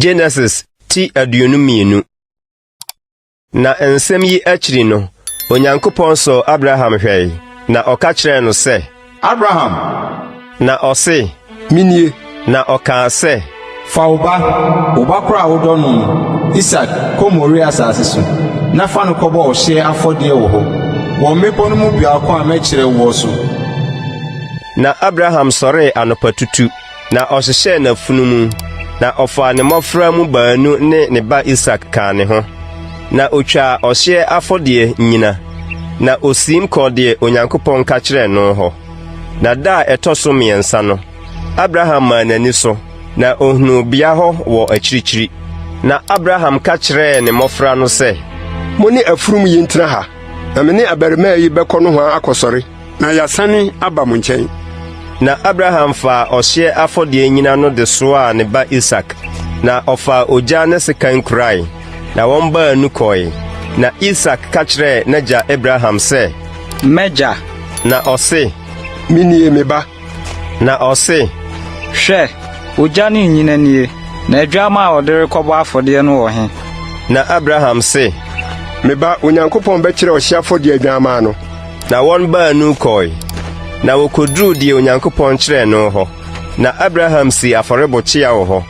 Genesis ti aduonu mmienu. Na nsɛm yi akyiri no, Onyankopɔn sɔɔ Abraham hwɛe, na ɔka kyerɛɛ no sɛ, Abraham! Na ɔse, Menie. Na ɔkaa sɛ. Fa wo ba, wo ba koro a wodɔ no no, Isak, kɔ Moria asase so, na fa no kɔbɔ ɔhyeɛ afɔdeɛ wɔ hɔ, wɔ mmepɔ no mu biako a mɛkyerɛ woɔ so. Na Abraham sɔree anɔpatutu, na ɔhyehyɛɛ n'afunumu, na ɔfaa ne mmɔfra mu baanu ne ne ba Isak kaa ne ho, na ɔtwaa ɔhyeɛ afɔdeɛ nyina, na ɔsiim kɔɔ deɛ Onyankopɔn ka kyerɛɛ no hɔ. Na da a ɛtɔ so mmiɛnsa no, Abraham maa n'ani so, na ohunuu bea hɔ wɔ akyirikyiri. Na Abraham ka kyerɛɛ ne mmɔfra no sɛ, Mo ne afurum yi ntena ha, na me ne abarimaa yi bɛkɔ nohoa akɔsɔre, na yɛasane aba mo nkyɛn. Na Abraham faa ɔhyeɛ afɔdeɛ nnyina no de soaa ne ba Isak, na ɔfaa ogya ne sekan kurae. Na wɔn baanu kɔe. Na Isak ka kyerɛɛ n'agya Abraham sɛ. M'agya! Na ɔse. Menie, me ba. Na ɔse. Hwɛ, ogya ne nnyina nie, na adwammaa a ɔde rekɔbɔ afɔdeɛ no wɔ he? Na Abraham se. Me ba, Onyankopɔn bɛkyerɛ ɔhye afɔdeɛ adwammaa no. Na wɔn baanu kɔe, na wɔkɔduruu deɛ Onyankopɔn kyerɛɛ no hɔ. Na Abraham sii afɔrebo kyea wɔ hɔ,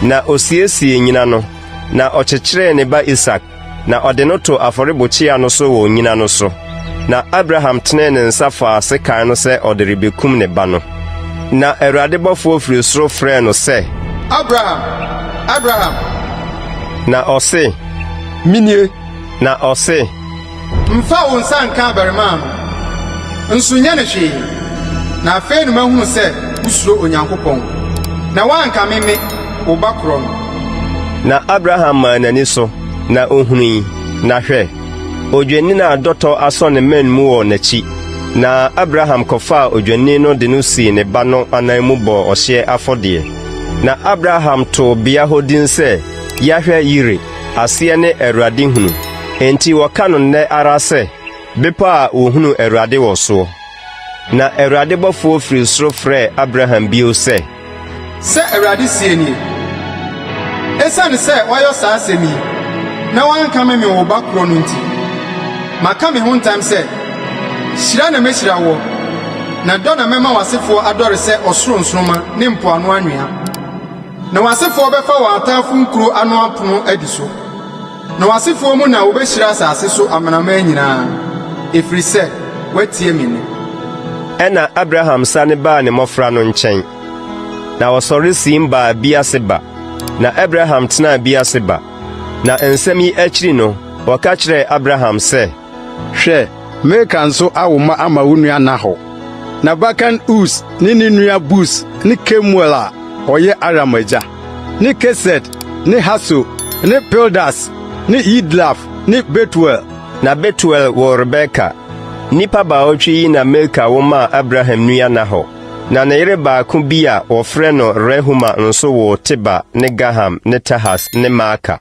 na ɔsiesiee nnyina no. Na ɔkyekyeree ne ba Isak, na ɔde no too afɔrebukyia no so wɔ onnyina no so. Na Abraham tenee ne nsa faa sekan no sɛ ɔde rebekum ne ba no. Na Awurade bɔfoɔ firi soro frɛɛ no sɛ. Abraham! Abraham! Na ɔse. Menie! Na ɔse. Mfa wo nsa nka abarimaa no, nso nyɛ no hwee. Na afei na mahunu sɛ wosuro Onyankopɔn, na woankame me, wo ba korɔ no. Na Abraham maa n'ani so, na ohui, na hwɛ! odwennini a dɔtɔ asɔ ne mmɛn mu wɔ n'akyi. Na Abraham kɔfaa odwennini no de no sii ne ba no anan mu bɔɔ ɔhyeɛ afɔdeɛ. Na Abraham too bea hɔ din sɛ Yahweh-yire. Aseɛ ne Awurade hunu. Enti wɔka no nnɛ ara sɛ, Bepɔ a wɔhunuu Awurade wɔ soɔ. Na Awurade bɔfoɔ firii soro frɛɛ Abraham bio sɛ. Sɛ Awurade seɛ nie, 'Esiane sɛ woayɔ saa asɛm yi na woankame me wo ba korɔ no nti, maka me ho ntam sɛ, hyira na mɛhyira woɔ, na dɔ na mɛma w'asefoɔ adɔre sɛ ɔsoro nsoromma ne mpoano anwea. Na w'asefoɔ bɛfa wɔn ataafoɔ nkuro ano apono adi so, na w'asefoɔ mu na wɔbɛhyira asase so amanaman nyinaa, ɛfiri sɛ woatie me nne. Ɛnna Abraham sane baa ne mmɔfra no nkyɛn, na ɔsɔre siim baa Beer-Seba, na Abraham tenaa Beer-Seba. Na nsɛm yi akyiri no, wɔka kyerɛɛ Abraham sɛ, Hwɛ, mereka nso awo mma ama wo nua Nahor. N'abakan Us ne ne nua Bus ne Kemuel a ɔyɛ Aram agya, ne Kesed ne Haso ne Pildas ne Yidlaf ne Betuel. Na Betuel woo Rebeka. Nnipa baawɔtwe yi na Milka wo maa Abraham nua Nahor. Na ne yere baako bi a wɔfrɛ no Rehuma nso woo Teba ne Gaham ne Tahas ne Maaka.